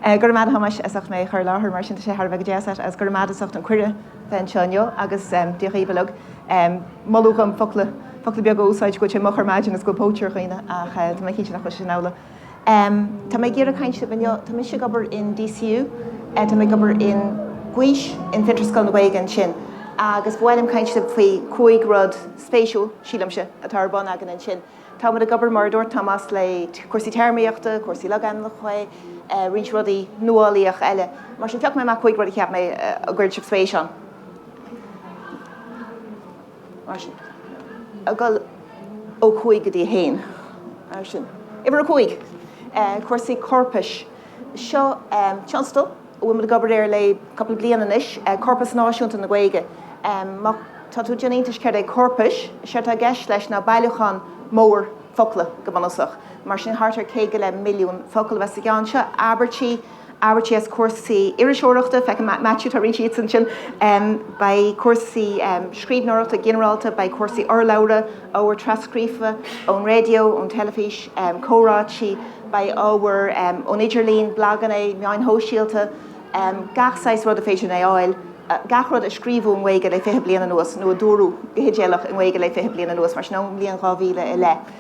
Go raibh maith ad a Thomáis as ucht mé a chur i láthair mar sin tá sé thar a bheith deas agat agus. Go raibh maith ad as ucht an cuireadh bheith anseo inniu agus Dia dhaoibh uilig. Moladh dhom focla beaga a úsáid go bhfuil sé moch ar maidin is go bhfuil póit ar dhaoine ach tá mé cinnte nach bhfuil sé sin amhlaidh. Em, tá mé ag iarraidh caint libh inniu, tá mise ag obair in DCU, eh, tá mé ag obair in Gaois, in Fiontar is Scoil na Gaeilge ansin, agus ba mhaith liom caint libh faoi chúig rud spéisiúil, sílimse, atá ar bun againn ansin. Tá muid ag obair, mar a dúirt Tomás, le cúrsaí téarmaíochta, cúrsaí logainmneacha, eh, roinnt rudaí nuálaíocha eile. Mar sin, phioc mé amach cúig rud a cheap mé, eh, a gcuirfeadh sibh spéis ann. Mar sin. Ag dul ó chúig go dtí a haon. Mar sin. Uimhir a cúig, cúrsaí corpais. Seo tionscadal a bhfuil muid ag obair air le cúpla bliain anois, Corpas Náisiúnta na Gaeilge. Má tá tú ag déanamh iontais céard é corpas, séard atá i gceist leis ná bailiúchán mór focla go bunúsach. Mar sin thart ar céad go leith milliún focal a bheas sa gceann seo, abairtí, abairtí as cúrsaí iriseoireachta, feicim Maitiú, tá roinnt díobh ansin, beidh cúrsaí scríbhneoireachta ginearálta, beidh cúrsaí urlabhra, ábhar tras-scríofa ón raidió, ón teilifís, comhráití, beidh ábhar ón idirlíon, blaganna, meáin shóisialta, gach saghas rud is féidir linn a fháil, gach rud a scríobhadh i nGaeilge le fiche bliain anuas nó a dúradh go hidéalach i nGaeilge le fiche bliain anuas, mar sin ón mbliain 2000 i leith.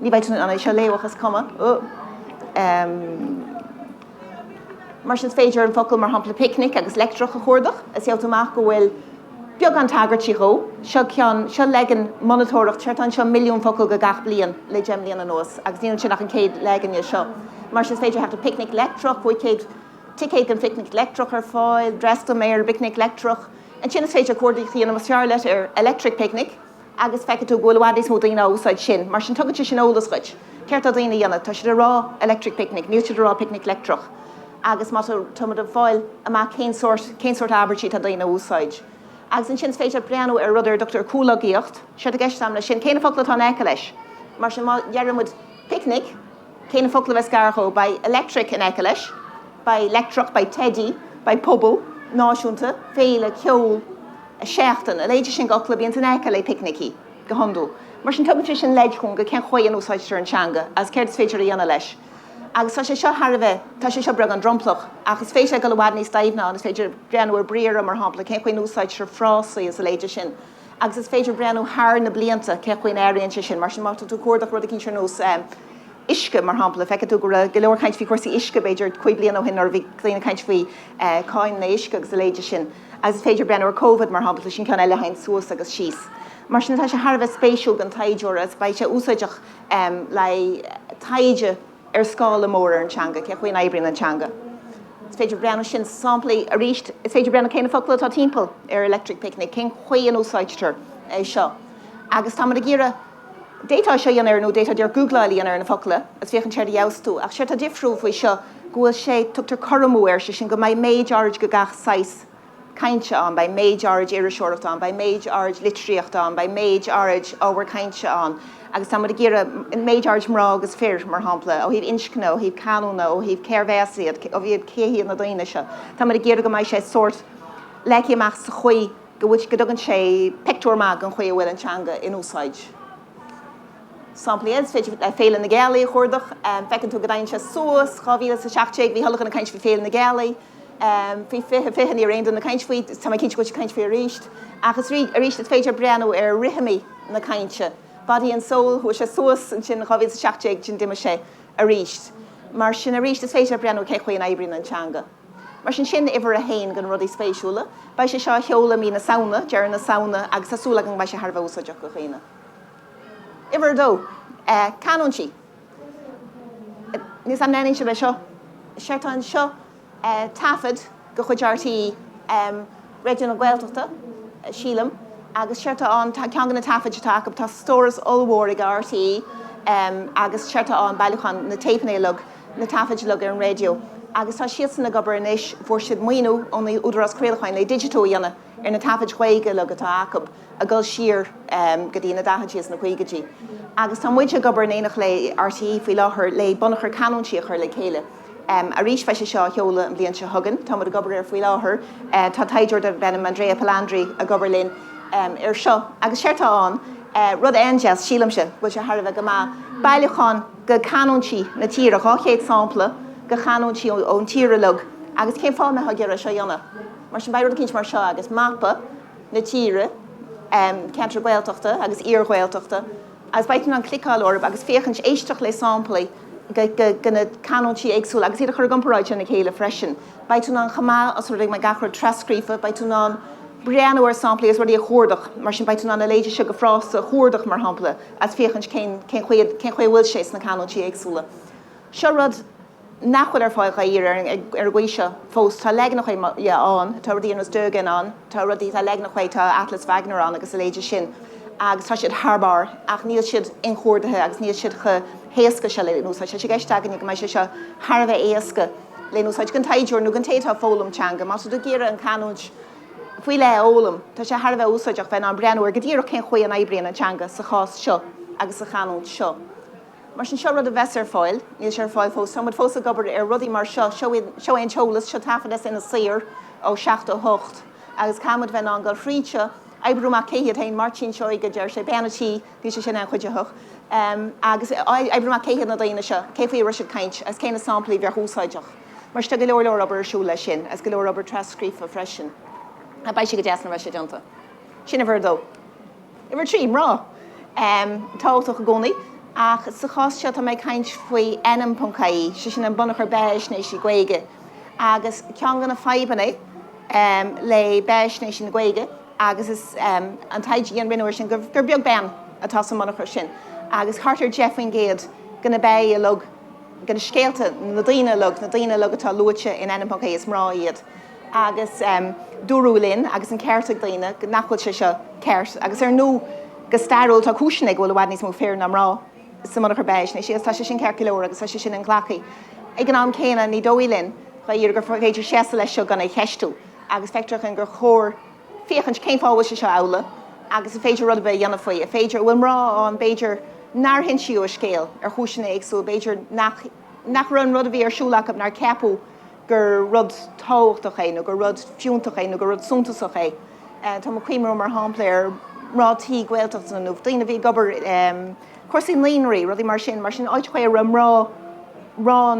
Ní bheidh tú in ann é seo a léamh ach is cuma. Mar sin is féidir an focal mar shampla picnic agus leictreach a chuardach is gheobh tú amach go bhfuil beagán tagairtí dhó. Seo ceann, seo leagan monatóireachta seo, tá anseo milliún focal do gach bliain le deich mbliana anuas agus níl ansin ach an céad leagan dhe seo. Mar sin is féidir theacht ar picnic leictreach, bhí céad ticéad don phicnic leictreach ar fáil, freastal mé ar phicnic leictreach. Ansin is féidir cuardach a dhéanamh más fearr leat ar electric picnic, agus feicfidh tú go bhfuil i bhfad níos mó daoine ag úsáid sin, mar sin tugann sé sin eolas dhuit céard tá daoine a dhéanamh. Tá siad ag rá electric picnic, níl siad ag rá picnic leictreach, agus tá, tá muid ag fáil amach cén sórt, cén sórt abairtí atá daoine a úsáid. Agus ansin is féidir leat breathnú ar rud ar a dtugtar comhlogaíocht, séard atá i gceist agam leis sin, cé na focla atá in aice leis. Mar sin má deir muid picnic, cé na focla a bheas gar dhó? Beidh electric in aice leis, beidh leictreach, beidh teidí, beidh pobal, náisiúnta, féile, ceol. seachtain. A leithéide sin d'fhocla, bíonn in aice le picnicí go hiondúil. Mar sin tugann sé sin leid dhúinn cén chaoi a n-úsáidtear an teanga agus céard is féidir a dhéanamh leis. Agus tá sé seo thar a bheith, tá sé seo beagán dromplach ach is féidir leat dul i bhfad níos doimhne ann. Is féidir breathnú ar briathra, mar shampla, cén chaoi a n-úsáidtear frásaí is a leithéide sin. Agus is féidir breathnú thar na blianta cén chaoi a n-athraíonn sé sin. Mar sin má tá tú ag cuardach rud eicínt ar nós uisce, mar shampla, feicfidh tú go raibh go leor caint faoi chúrsaí uisce b'fhéidir cúig bliana ó shin nuair a bhí daoine ag caint faoi cáin an uisce agus a leithéide sin. Is féidir breathnú ar Covid, mar shampla, sin ceann eile a théann suas agus síos. Mar sin, tá sé thar a bheith spéisiúil don taighdeoir agus beidh sé úsáideach le taighde ar scála mór ar an teanga, cén chaoi a n-oibríonn an teanga. Is féidir breathnú sin samplaí arís. Is féidir breathnú cé na focail atá timpeall ar Electric Picnic, cén chaoi a n-úsáidtear é seo agus tá muid ag iarraidh, D'fhéadfá seo a dhéanamh ar nó d'fhéadfá deir googláil a dhéanamh ar na focla agus féachaint céard a gheobhas tú. Ach séard tá difriúil faoi seo go bhfuil sé, tugtar cothromú air, sé sin go mbeidh méid áirid go gach saghas cainte ann, beidh méid áirid iriseoireachta ann, beidh méid áirid litríochta ann, beidh méid áirid ábhar cainte ann agus tá muid ag iarraidh méid áirid mná agus fir, mar shampla, ó thaobh inscne, ó thaobh canúna, ó thaobh cérb as iad, ó thaobh cé hiad na daoine seo. Tá muid ag iarraidh go mbeidh sé sórt leagtha amach sa chaoi, go bhfuil, go dtugann sé pictiúr maith den chaoi a bhfuil an teanga in úsáid. Samplaí, is féidir Féile na Gealaí a chuardach, feiceann tú go dtagann sé suas, 2017, bhí chuile dhuine ag caint faoi Féile na Gealaí, faoi 2020 ní raibh aon duine ag caint faoi, tá mé cinnte go bhfuil siad ag caint faoi arís, agus arís, is féidir breathnú ar rithimí na cainte, Body and Soul, chuaigh sé suas, ansin 2017, ansin d'imigh sé arís. Mar sin, arís, is féidir breathnú cén chaoi a n-oibríonn an teanga. Mar sin sin uimhir a haon de na rudaí spéisiúla. Beidh sé seo á sheoladh i mí na Samhna, deireadh na Samhna, agus tá súil agam go mbeidh sé thar a bheith úsáideach do dhaoine. Uimhir a dó. Canúintí. Níl a fhios agam an aithníonn sibh é seo? Séard tá anseo taifead de chuid RTÉ Raidió na Gaeltachta, sílim, agus séard tá ann, ceann de na taifid atá acu, tá stóras ollmhór ag RTÉ, agus séard tá ann bailiúchán na dtéipeanna uilig. na taifid uilig ar an raidió agus tá siadsan ag obair anois, fuair siad maoiniú ón Údarás Craolacháin le digitiú a dhéanamh ar na taifid Ghaeilge uilig atá acu, ag dul siar go dtí na daichidí is na caogaidí. Agus tá muid ag obair in éineacht le RTÉ faoi láthair le bunachar canúintí a chur le chéile. Arís, beidh sé seo á sheoladh an bhliain seo chugainn. Tá muid ag obair air faoi láthair. Tá taighdeoir darb ainm Andrea Palandri ag obair linn air seo. Agus séard tá ann, rud an-deas, sílimse, go bhfuil sé thar a bheith go maith, bailiúchán, go canúintí na tíre, 200 sampla go canúintí ón tír uilig agus cén fáth a mbeadh muid ag iarraidh seo a dhéanamh. Mar sin beidh rud eicínt mar seo agus mapa na tíre, ceantair Ghaeltachta agus iar-Ghaeltachta agus beidh tú in ann cliceáil orthub agus féachaint, éisteacht le samplaí go na canúintí éagsúla agus iad a chur i gcomparáid lena chéile freisin. Beidh tú in ann chomh maith os rud é go mbeidh gach rud tras-scríofa, beidh tú in ann breathnú ar samplaí agus rudaí a chuardach, mar sin beidh tú in ann a leithéid seo de phrása a chuardach mar shampla, is féachaint cén chaoi a bhfuil sé sna canúintí éagsúla. Seo rud nach bhfuil ar fáil dháiríre ar an gcaoi seo fós, tá leaganacha dhe ann, tá rudaí ar nós Doegen ann, tá rudaí, tá leaganacha dhe, tá Atlas Wagner ann agus a leithéidí sin agus tá siad thar barr ach níl siad inchuardaithe agus níl siad chomh héasca seo le n-úsáid. Tá sé i gceist againne go mbeidh sé seo thar a bheith éasca le n-úsáid, don taighdeoir nó don té atá ag foghlaim teanga. Más rud go gcíoradh an chanúint, faoi leith a fhoghlaim. Tá sé thar a bheith úsáideach bheith in ann breathnú ar go díreach cén chaoi a n-oibríonn an teanga sa chás seo agus sa chanúint seo. Mar sin, seo rud a bheas ar fáil. Níl sé ar fáil fós. Tá muid fós ag obair ar rudaí mar seo. Seo iad, seo é an t-eolas, seo taifead as Inis Oírr ó 78 agus caithfidh muid bheith in ann dul thríd, oibriú amach cé hiad féin, Máirtín Seoighe a deir sé, Bean an Tí, bhí sé sin an-chuidiúil, agus oibriú amach cé hiad na daoine seo, cé faoi a raibh siad ag caint agus cé na samplaí a bheadh úsáideach. Mar tá go leor leor obair ar siúl leis sin agus go leor obair tras-scríofa freisin. Ach beidh sé go deas nuair a bheas sé déanta. Sin uimhir a dó. Uimhir a trí, mná. Em, tábhachtach i gcónaí, ach sa chás seo tá mé ag caint faoi ainm.ie, 'sé sin an bunachar beathaisnéisí Gaeilge. Agus ceann de na fadhbanna, em, le beathaisnéisí na Gaeilge, agus is, em, an taighde a rinneadh air sin, gur, gur beag bean atá sa mbunachar sin. Agus thart ar 10% de na beathaí uilig. de na scéalta, na daoine uilig, na daoine uilig atá luaite in ainm.ie is mná iad agus dúradh linn agus an ceart ag daoine nach bhfuil sé seo ceart agus ar ndú go stairiúil tá cúiseanna ann go bhfuil i bhfad níos mó fir ná mná sa mbunachar beathaisnéisí agus tá sé sin ceart go leor agus tá sé sin inghlactha. Ag an am céanna ní dóigh linn, dháiríre, gur féidir seasamh leis seo gan é cheistiú agus feictear dúinn gur chóir féachaint cén fáth a bhfuil sé seo amhlaidh agus an féidir rud ar bith a dhéanamh faoi, an féidir, an bhfuil mná ann b'fhéidir nár insíodh a scéal ar chúiseanna éagsúla, b'fhéidir nach, nach raibh an rud a bhí ar siúl acu, nár ceapadh gur rud tábhachtach é nó gur rud fiúntach é nó gur rud suntasach é. Tá mé ag cuimhniú mar shampla ar mhná tí Gaeltachta nó daoine a bhí ag obair i, cúrsaí naoínraí, rudaí mar sin, mar sin áit a raibh mná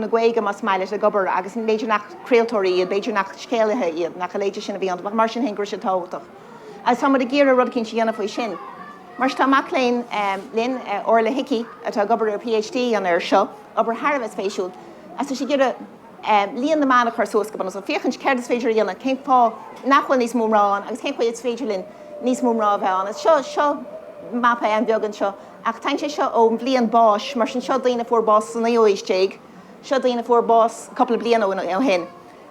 na Gaeilge más maith leat, ag obair agus b'fhéidir nach craoltóirí iad, b'fhéidir nach scéalaithe iad, nach a leithéid sin a bhí iontu ach mar sin féin go raibh sé tábhachtach agus tá muid ag iarraidh rud éicínt a dhéanamh faoi sin. Mar sin tá mac léinn linn, Orla Hickey, atá ag obair ar a PhD a dhéanamh air seo, obair thar a bheith spéisiúil agus tá sí ag iarraidh, líon na mban a chur suas go bunúsach, féachaint céard is féidir a dhéanamh, cén fáth nach bhfuil níos mó mná ann agus cén chaoi is féidir linn níos mó mná a bheith ann. Is seo, seo mapa an-bheag anseo, ach tagann sé seo ón mbliain báis, mar sin seo daoine a fuair bás sa naoú haois déag, seo daoine a fuair bás cúpla bliain ó shin.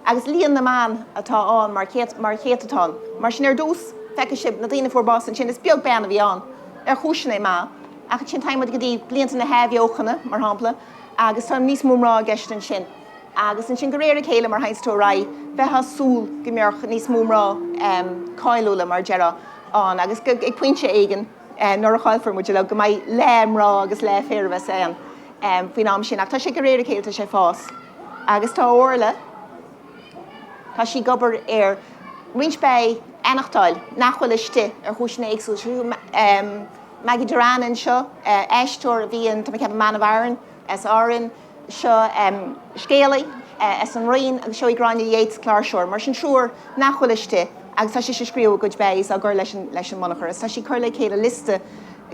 Agus líon na mban atá ann mar chéad, mar chéatadán. Mar sin ar dtús, feicfidh sibh na daoine a fuair bás ansin, is beag bean a bhí ann, ar chúiseanna maithe, ach ansin tagann muid go dtí blianta na hAthbheochana, mar shampla, agus tá níos mó mná i gceist ansin. Agus ansin de réir a chéile mar théanns tú ar aghaidh bheithfeá ag súil go mbeadh níos mó mná cáiliúla mar deirfeá ann agus ag pointe éigin nuair a chaillfear muid uilig go mbeidh leath mná agus leath fir a bheas ann faoin am sin ach tá sé de réir a chéile tá sé ag fás. Agus tá Orla tá sí ag obair ar roinnt bean a aimsiú nach bhfuil istigh ar chúiseanna éagsúla. Maggie Dirrane anseo, aisteoir a bhí in tá mé ag ceapadh, Man of Aran as Árainn, seo scéalaí as an Rinn agus seo í Gráinne Yeats, cláirseoir. Mar sin triúr nach bhfuil istigh agus tá sise ag scríobh a gcuid bios á gcur leis an mbunachar agus tá sí ag cur le chéile liosta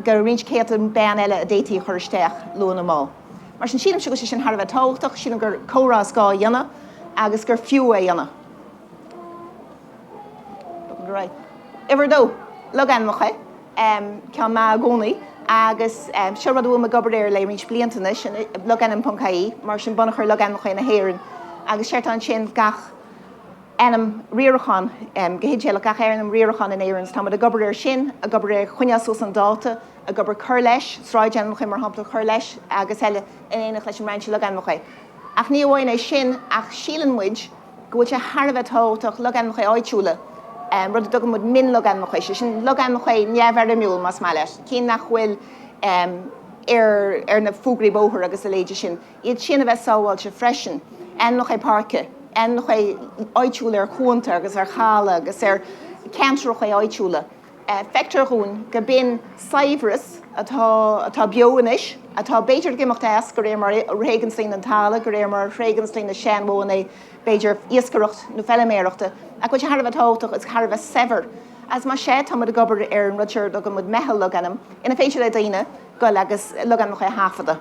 de roinnt céadta bean eile a d'fhéadfaí a chur isteach luath nó mall. Mar sin sílimse go bhfuil sé sin thar a bheith tábhachtach, sílim gur comhrá is gá a dhéanamh agus gur fiú é a dhéanamh. Uimhir a dó, logainmneacha. ceann maith i gcónaí agus seo rud a bhfuil mé ag obair air le roinnt blianta anois, logainm ponc ie mar sin bunachar logainmneacha na hÉireann agus séard atá ansin gach ainm riaracháin go hidéalach gach ainm riaracháin in Éirinn so tá muid ag obair air sin, ag obair ar a choinneáil suas chun dáta, ag obair cur leis, sráidainmneacha mar shampla a chur leis agus eile in éineacht leis an mBrainse Logainmneacha. Ach ní amháin é sin ach síleann muid, go bhfuil sé thar a bheith tábhachtach logainmneacha áitiúla, rud a dtugann muid mion-logainmneacha, sé sin logainmneacha neamhfhoirmiúil más maith leat, cinn nach bhfuil ar na fógraí bóthair agus a leithéide sin, iad sin a bheith sábháilte freisin, ainmneacha páirce, ainmneacha áitiúla ar chuanta agus ar chaladh agus ar cheantracha áitiúla. Feictear dhúinn gur b'in saibhreas atá beo anois, atá b'fhéidir ag imeacht as, go réir mar a thréigeanns daoine an talamh go réir mar a thréigeanns daoine na seanmhodhanna, b'fhéidir iascaireacht nó feiliméarachta, ach go bhfuil sé thar a bheith tábhachtach is thar a bheith saibhir. Agus más ea, tá muid ag obair ar an rud seo a dtugann muid meitheal logainm, inar féidir le daoine goil agus logainmneacha a thaifeadadh.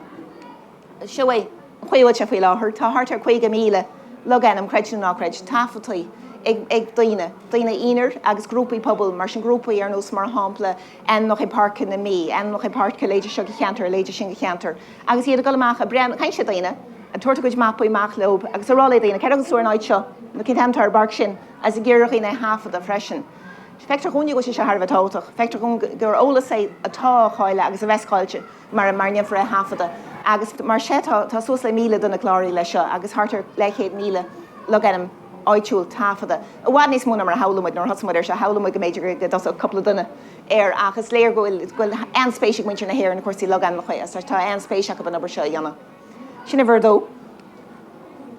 seo é an chaoi a bhfuil sé faoi láthair. Tá thart ar 50,000 logainm, creid nó ná creid, taifeadta ag daoine, daoine aonair agus grúpaí pobail, mar sin, grúpaí ar nós, mar shampla, Ainmneacha Páirce na Mí, Ainmneacha Páirce a leithéide seo de cheantar, a leithéide sin de cheantar. Agus iad ag dul amach ag breathnú, ag caint le daoine, ag tabhairt a gcuid mapaí amach leo agus ag rá le daoine, céard a thuganns tú ar an áit seo, nó cén t-ainm atá ar an bpáirc sin, agus ag iarraidh ar dhaoine é a thaifeadadh freisin. Feictear dhúinne go bhfuil sé seo thar a bheith tábhachtach. Feictear dhúinn gur eolas é atá á chailleadh agus a bheas caillte. mara ndéanfar é a thaifeadadh agus más ea tá suas le míle duine cláraithe leis seo agus thart ar leathchéad míle logainm áitiúil taifeadta. I bhfad níos mó ná mar a shamhlaigh muid nuair a thosaigh muid air seo, shamhlaigh muid go mb'fhéidir go dtosódh cúpla duine air ach is léir go bhfuil an-spéis ag muintir na hÉireann i gcúrsaí logainmneacha agus tá an-spéis acu an obair seo a dhéanamh. Sin uimhir a dó.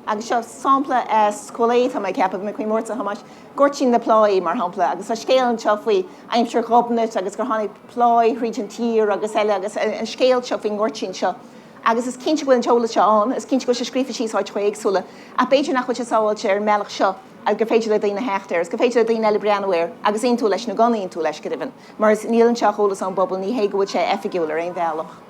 Agus seo sampla as Cúil Aodha, tá mé ag ceapadh, mé faoi Máirtín Thomáis, Goirtín na Pláí, mar shampla, agus tá scéal anseo faoi aimsir Ghobnait agus gur tháinig pláigh thríd an tír agus eile agus an scéal seo faoin ngoirtín seo. Agus is cinnte go bhfuil an t-eolas seo ann, is cinnte go bhfuil sé scríofa síos áiteacha éagsúla, ach b'fhéidir nach bhfuil sé sábháilte ar an mbealach seo agus gur féidir le daoine theacht air, is gur féidir le daoine eile breathnú air agus aontú leis nó gan aontú leis, go deimhin, mar is níl anseo ach eolas ón bpobal, ní hé go bhfuil sé oifigiúil ar aon bhealach.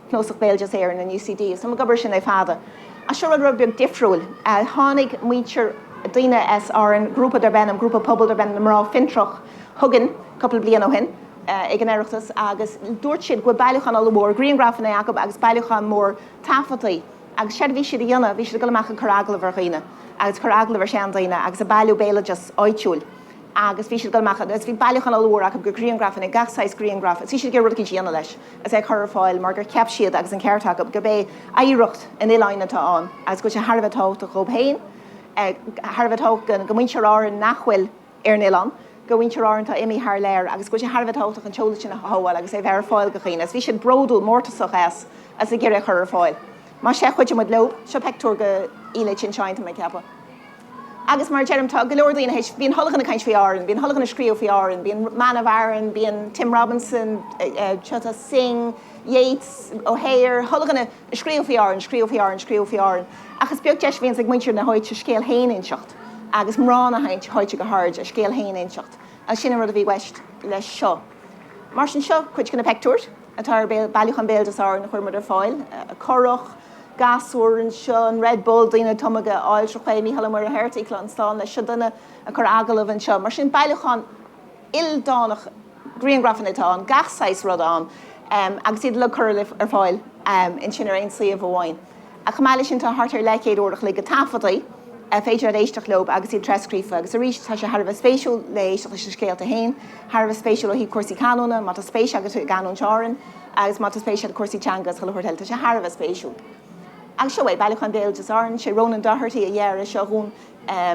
Cnuasach Béaloideas Éireann in UCD. So ag obair sin le fada. Ach seo rud, rud beag difriúil. Tháinig muintir, daoine as Árainn, grúpa darb ainm, grúpa pobail darb ainm Mná Fiontracha chugainn cúpla bliain ó shin ag an Oireachtas agus dúirt siad go raibh bailiúchán ollmhór griangrafanna acu agus bailiúchán mór taifeadtaí. Agus séard a bhí siad a dhéanamh, bhí siad ag dul amach ag cur agallamh ar dhaoine agus ag cur agallamh ar sheandaoine agus ag bailiú béaloideas áitiúil. agus bhí siad ag dul amach agus bhí bailiúchán ollmhór acu de ghriangrafanna, gach saghas griangraf, agus bhí siad ag iarraidh rud eicínt a dhéanamh leis agus é a chur ar fáil mar gur cheap siad, agus an ceart acu, gurb é oidhreacht an oileáin atá ann agus go bhfuil sé thar a bheith tábhachtach dhóibh féin, thar a bheith tábhachtach do mhuintir Árann nach bhfuil ar an oileán, do mhuintir Árann atá imithe thar lear agus go bhfuil sé thar a bheith tábhachtach an t-eolas sin a shabháil agus é a bheith ar fáil do dhaoine agus bhí siad bródúil, mórtasach as agus ag iarraidh é a chur ar fáil. Mar sin, chuidigh muid leo. Seo peictiúr den oileán ansin, tá mé ag ceapadh. Agus mar a deirim, tá go leor daoine théis, bíonn chuile dhuine ag caint faoi Árainn, bíonn chuile dhuine ag scríobh faoi Árainn, bíonn Man of Aran, bíonn Tim Robinson, tá Synge, Yeats, Ó Flaithearta, chuile dhuine ag scríobh faoi Árainn, scríobh faoi Árainn, scríobh faoi Árainn. Ach is beag deis a bhíonns ag muintir na háite a scéal fhéin a inseacht agus mná na háite go háirid, a scéal fhéin a inseacht. Agus sin an rud a bhí i gceist leis seo. Mar sin, seo cuid de na peictiúir atá ar bailiúchán Béaloideas Árann a chuir muid ar fáil. Currach, gasúir anseo, an Red Bull, daoine ag tumadh den aill, tráth chuaigh, Mícheál Ó Muircheartaigh ann, beannacht slán leis, seo duine ag cur agallamh anseo. Mar sin, bailiúchán ildánach griangrafanna atá ann, gach saghas rud ann agus iad uilig curtha ar fáil ansin ar aon suíomh amháin. Chomh maith leis sin, tá thart ar le céad uair a chloig de taifeadtaí ar féidir leat éisteacht leo agus iad trascríofa. Agus arís, tá sé thar a bheith spéisiúil le éisteacht leis na scéalta féin, thar a bheith spéisiúil ó thaobh cúrsaí canúna, má tá spéis agat i gcanúint Árann, agus má tá spéis agat i gcúrsaí teanga is chuile shórt eile, tá sé thar a bheith spéisiúil. Agus seo é, Bailiúchán Béaloideas Árann, sé Ronan Doherty a dhear é seo dhúinn,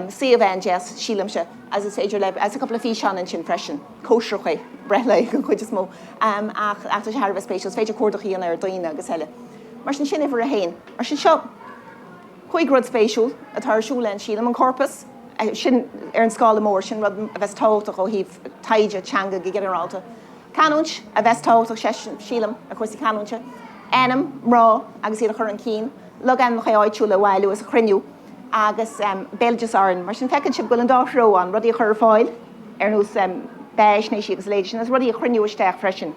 suíomh an-deas, sílimse, agus is féidir le, agus tá cúpla físeán ansin freisin, cóisreacha, breithlae, den chuid is mó, ach tá sé thar a bheith spéisiúil, is féidir cuardach a dhéanamh ar dhaoine agus eile. Mar sin, sin uimhir a haon. Mar sin, seo cúig rud spéisiúil atá ar siúl ann, sílim, an corpas, sin ar an scála mór, sin rud a bheas tábhachtach ó thaobh taighde teanga go ginearálta. Canúint a bheas tábhachtach, sílim, do chúrsaí canúinte. Ainm, mná agus iad a chur chun cinn, logainmneacha áitiúla a bhailiú is a chruinniú agus béaloideas Árann. Mar sin, feiceann sibh go bhfuil an dá threo ann, rudaí a chur ar fáil ar nós beathaisnéisí agus a leithéidí sin, agus rudaí a chruinniú isteach freisin.